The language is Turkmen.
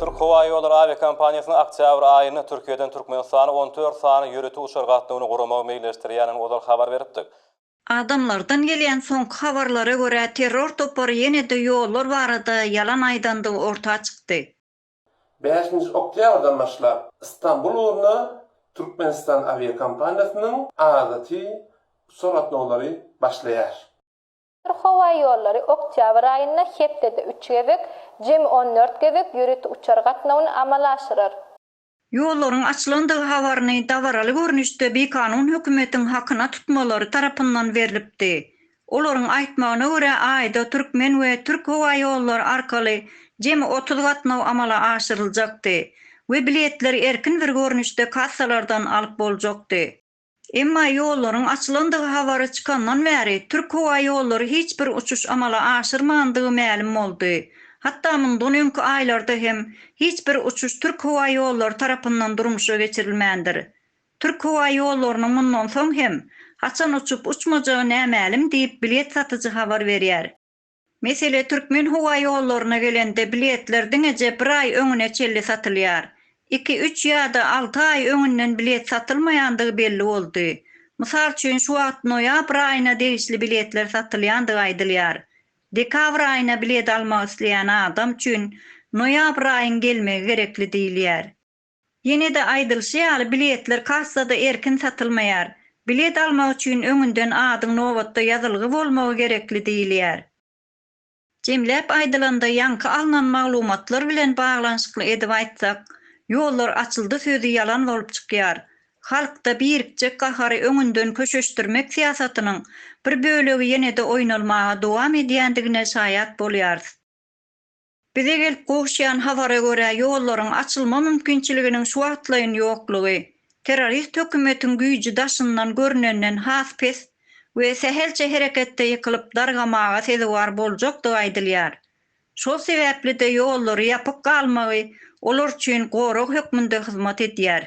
Türk howa ýollary awiakompaniýasynyň oktýabr aýynda Türkiýeden Türkmenistana on dört sany ýörite uçar gatnawyny guramagy meýilleşdirýändigini ozal habar beripdik. Adamlardan gelýän soňky habarlara görä, terror topary ýene-de ýollar barada ýalan aýdandygy orta çykdy. Bäşinji oktýabrdan başlap Stambul ugruna Türkmenistan awiakompaniýasynyň adaty uçar gatnawlary başlaýar. Türk howa ýollary oktýabr aýynda hepdede üç gezek, jemi on dört gezek ýörite uçar gatnawyny amala aşyrar. Ýollaryň açylandygy habaryny dabaraly görnüşde bikanun hökümetiň hakyna tutmalary tarapyndan berlipdi. Olaryň aýtmagyna görä, aýda türkmen we türk howa ýollary arkaly jemi otuz gatnaw amala aşyryljakdy we biletleri erkin bir görnüşde kassalardan alyp boljakdy. Emma ýollaryň açylandygy habary çykandan bäri Türk howa ýollary hiç bir uçuş amala aşyrmandygy mälim boldy. Hatda mundan öňki aýlarda hem hiç bir uçuş Türk howa ýollary tarapyndan durmuşa geçirilmändir. Türk howa ýollarynyň mundan soň hem haçan uçup-uçmajagy nämälim diýip bilet satyjy habar berýär. Mesele türkmen howa ýollaryna gelende biletler diňeje bir aý öňüne çenli satylýar. Iki, üç ýa-da alty aý öňünden bilet satylmaýandygy belli boldy. Mysal üçin şu wagt noýabr aýyna degişli biletler satylýandygy aýdylýar. Dekabr aýyna bilet almak isleýän adam üçin noýabr aýyň gelmegi gerekli diýilýär. Ýene-de aýdylyşy ýaly, biletler kassada erkin satylmaýar. Bilet almak üçin öňünden adyň nobatda ýazylgy bolmagy gerekli diýilýär. Jemläp aýdylanda, ýaňky alnan maglumatlar bilen baglanyşykly edip aýtsak, ýollar açyldy sözi ýalan bolup çykýar. Halkda birikjek gahary öňünden köşeşdirmek syýasatynyň bir bölegi ýene-de oýnalmaga dowam edýändigine şaýat bolýarys. Bize gelip gowuşýan habara görä ýollaryň açylma mümkinçiliginiň şu wagtlaýyn ýoklugy, terrorist hökümetiň güýji daşyndan görnenden has pes we sähelçe hereketde ýykylyp dargamaga sezewar boljakdygy aýdylýar. Şol sebäpli-de ýollary ýapyk galmagy olar üçin gorag hökmünde hyzmat edýär.